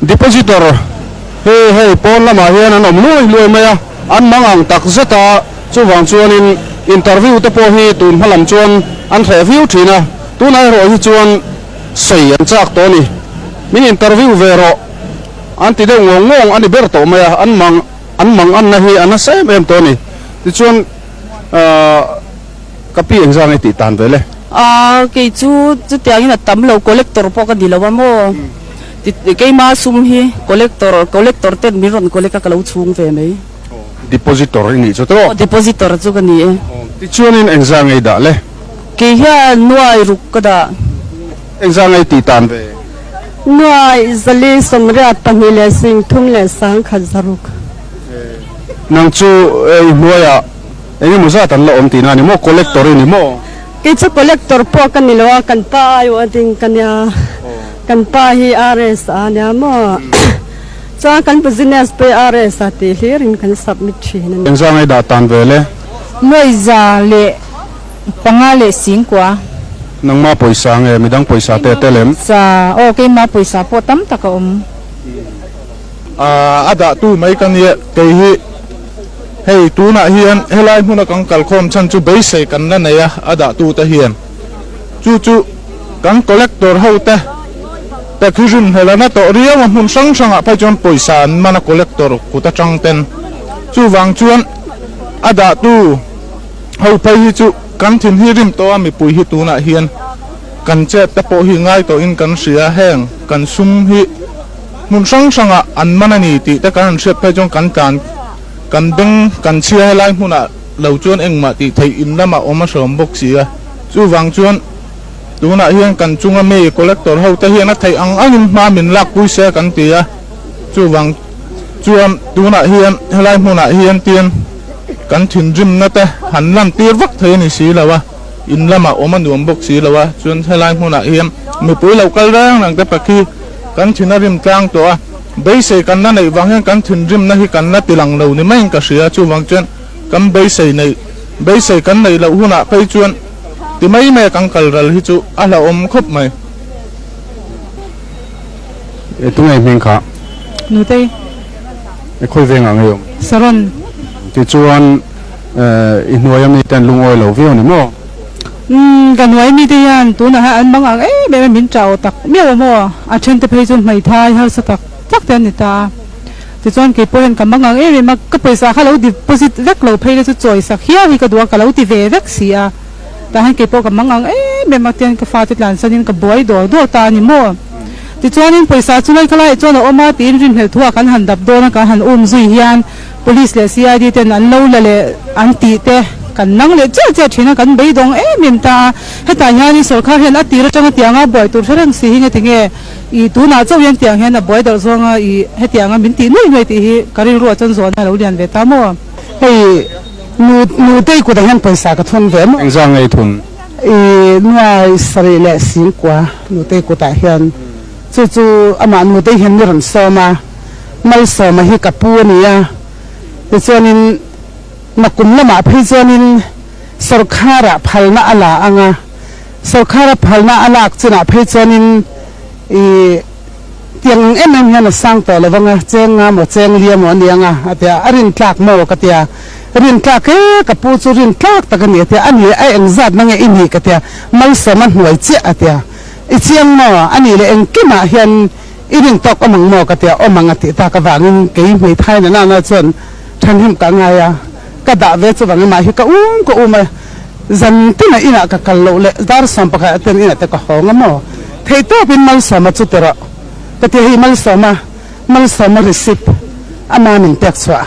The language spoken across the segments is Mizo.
Depositor hi hei pawn lamah hian an awm luai luai mai a, an hmang ang tak zet a, chuvang chuanin interview te pawh hi tun hma lam chuan an hreh viau thin a, tunah erawh hi chuan sawi an chak tawh a ni, min interview ve rawh an ti deuh ngawng ngawng a ni ber tawh mai a, an hmang an hmang anna hi a nasa em em tawh a ni, tichuan aah. Ka pi eng zang e tih tan ve le. Aaa kei chu chutiang in a tam lo collector pawh ka ni lo a maw ti keima sum hi collector collector ten min rawn collect a ka lo chhung ve mai. Depositor i nih chu tawh. Aw depositor chu ka ni e. Ti chuan in eng zang ei dah le. Kei hian nuai ruk ka dah. Eng zang ei tih tan ve. Nuai zali sawmriat pahnih leh singthum leh sangkhat zaruk. Nang chu i hnuai ah. Eng emaw zat an la awm tihna a ni maw? Collector i ni maw? Kei chu collector pawh ka ni lo a, kan pa aiawh a ding ka nia. Kan pa hi RS a nia maw? Chuan kan business pawh hi RS a tih hlir in kan submit thin a ni. Engzah ngai dah tan ve le? Mawihza leh panga leh singkua. Nangma pawisa nge? Midang pawisa te tel em? Sa, Aw, keimah pawisa pawh tam tak a awm. A dah tu mai ka nia. Kei hi Hei tunah hian helai hmuna kan kalkhawm chhan chu beisei kan la nei a, a dahtute hian. Chu chu kan collector hote pek hi rim hmel a, la tawh riau a hmun hrang hrangah phei chuan pawisa an man a collector kut atang ten. Chuvang chuan a dahtu ho phei hi chu kan thin hi rim tawh a, mipui hi tunah hian kan chet te pawh hi ngai tawhin kan hria heng kan sum hi. hmun hrang hrangah an man a ni tih te kan rawn hriat phei chuan kan tlan kan beng kan chhia helai hmunah lo chuan engmah tih theih in lamah awm a hrawm bawk si a, chuvang chuan tunah hian kan chunga mi collector hote hian a theih ang angin hma min lakpui se kan ti a, chuvang chuan tunah hian helai hmunah hian tian kan thinrimna te han lantir vak thei a ni si lo a, in lamah awm a nuam bawk si lo a, chuan helai hmunah hian mipui lo kal reng reng te pakhi. Kan thin a rim tlang tawh a, beisei kan la neih vang hian kan thinrimna hi kan la tilang lo ni maiin ka hria, chuvang chuan kan beisei neih, beisei kan neih loh hunah phei chuan ti mai mai a kan kal ral hi chu a hlauhawm khawp mai. E tunei hming kha. Nutei. E khawi vengah ngeiawm. Saron. Tichuan, I hnuaia mite an lungawi lo viau ni maw? Umm, ka hnuai mite hian tunaha an mang ang em em a, min ṭah aw tak miau a maw? A ṭhente phei chu hmaithai harsa tak tak te an ni ta a. Tichuan keipawh hian ka mang ang em em a, ka pawisa kha lo deposit vek lo phei na chu chawisak hial hi ka duh a, ka lo ti ve vek si a, tah hian keipawh ka mang ang em em a, tian ka fate tlansanin ka buai dawr dawr ta a ni maw? Tichuanin pawisa chu ngaihkhalaiah chuan a awm a, tiin rinhlelh thu a kan han dap dawn a, kan han um zui hian. Police leh CID ten an lo la leh an tih te kan nang leh chiah chiah thin a, kan beidawng em em ta a, hetah hianin sorkar hian a tir atang a tiang a, buai tur hre reng si hi nge ti nge, ih tunah chauh hian tiang hian a buai darh zawng a, ih hetiang a min tih nuai nuai tih hi ka rilru a chawn zual na a lo lian ve ta maw? Hei nu nu te i kutah hian pawisa ka thawn ve maw? Engzah nge i thun? Ih nuai sarih leh singkua nu te i kutah hian. Chu chu amah nu te hian ni rawn sawm a, Malsawma hi ka pu a ni a, tichuanin na kum lamah phei chuanin sorkara phalna a la ang a, sorkara phalna a lak chinah phei chuanin ih tiang ang em em hian a sang tawh lovang a, chenga maw chenglia maw a ni ang a, a ti a, a rin tlak maw ka ti a, rin tlak e, ka pu chu rin tlak tak a ni a ti a, a ni a engzatna nge i nih ka ti a, Malsawma hnuai chiah a ti a. I chiang maw? A nih leh engkimah hian i rin tawk awm ang maw ka ti a, awm ang a tih tak avangin kei hmei thain a nana chuan thahnem ka ngai a, ka dah ve chuvangin mah hi ka um ka um a, zan tinah inah ka kal loh leh darsawm pakhat a ten inah te ka hawng a maw? Theihtawpin Malsawma chu ti rawh ka ti a, hei Malsawma, Malsawma Risip ama min pek chhuah,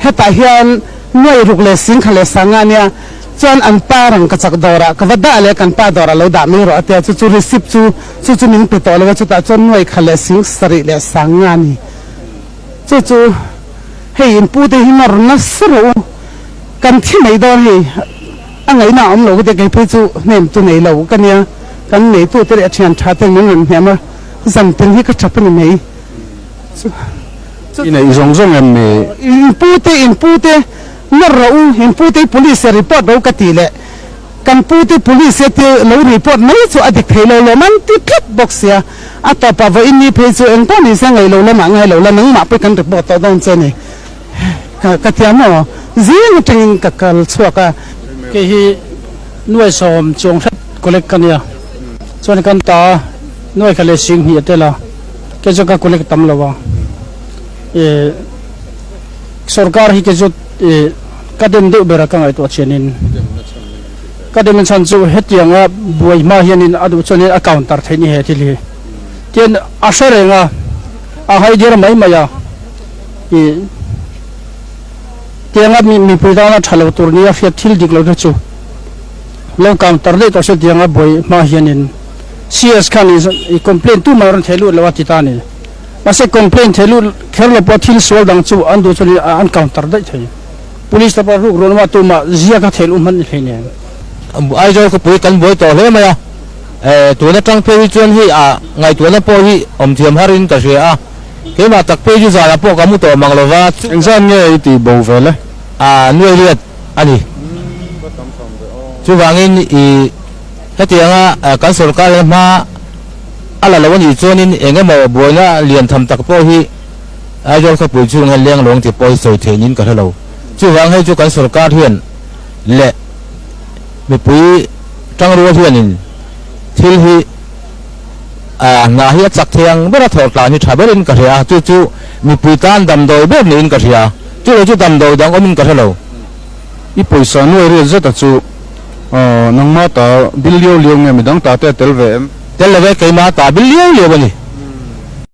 hetah hian nuai ruk leh singkha leh sanga nia Chuan an pa rangkachak dawrah ka va dah leh kan pa dawrah lo dah mai rawh a ti a, chu chu receipt chu chu chu min pe tawh lo a, chutah chuan nuai kha leh sing sarih leh sang nga ni chu chu hei in pu te hi nawr nasa rawh u kan thi mai dawn hei a ngaihna awm lo ka ti a, kei phei chu hnem tu nei lo ka nia kan nei tu te leh a thian tha ten min rawn hnem a, zan pin hi ka tha pawh ni mai chu chu I neih zawng zawng em ni? In pu te in pu te Nawr rawh u, in pute police e report ro ka tih leh kan pute police e thil lo report mai chu a dik thei lo lawm an ti tlat bawk sia, a tawp a vawiin ni phei chu engpawh ni se ngailo lamah ngailo la nangmah pawh i kan report tawh dawn che ni ka tia maw zing atangin ka kal chhuak a. Kei hi nuai sawm chuang hret collect ka nia chuan kan ta a, nuai kha leh sing hnih a tel a, kei chuan ka collect tam lo a, e. Sorkar hi ka zut i ka dem deuh ber a ka ngaihtuah thian in ka dem a chhan chu hetiang a buai hma hian in a duh chuan in a counter theih ni he thil hi tian a hre reng a a haidir mai mai a i tiang a mipui tan a thalo tur ni a hriat thil dik lo te chu lo counter daih tawh se tiang a buai hma hian in sies khan i complain tu mai a rawn theih lut lo a ti ta ni. Mahse complain thei lut kherlo pawh thil sual dang chu an duh chuan an counter daih thei. Police lapa hruk rual awma tuma zia kha thel um han ni thei nen. Aizawl khawpui kan buai tawh hle mai a, tun atang phei hi chuan hei a ngaihtuahna pawh hi awm thiam har in ka hria a, keimah tak page zan ah pawh ka hmu tawh mang lo va, chu Eng zan nge i ti bo ve le? A nuairiat a ni, chuvangin i hetianga kan sorkar leh hma. A la lo a nih chuanin eng emaw buaina lian tham tak pawh hi Aizawl khawpui chhung hian leng lawng ti pawi sawi theih niin ka hre lo. Chuvang hei chu kan sawrkar hian leh mipui tangrual hianin thil hi ah hna hi a chak thei ang ber a thawh tlan hi tha berin ka hria. Chu chu mipui tan damdawi ber niin ka hria. Chu lo chu damdawi dang awmin ka hre lo. I pawisa nuai riat zeta chu Aw, nangma ta bil liau liau nge midang ta te a tel ve em? Tel lo ve, keimah ta bil liau liau a ni.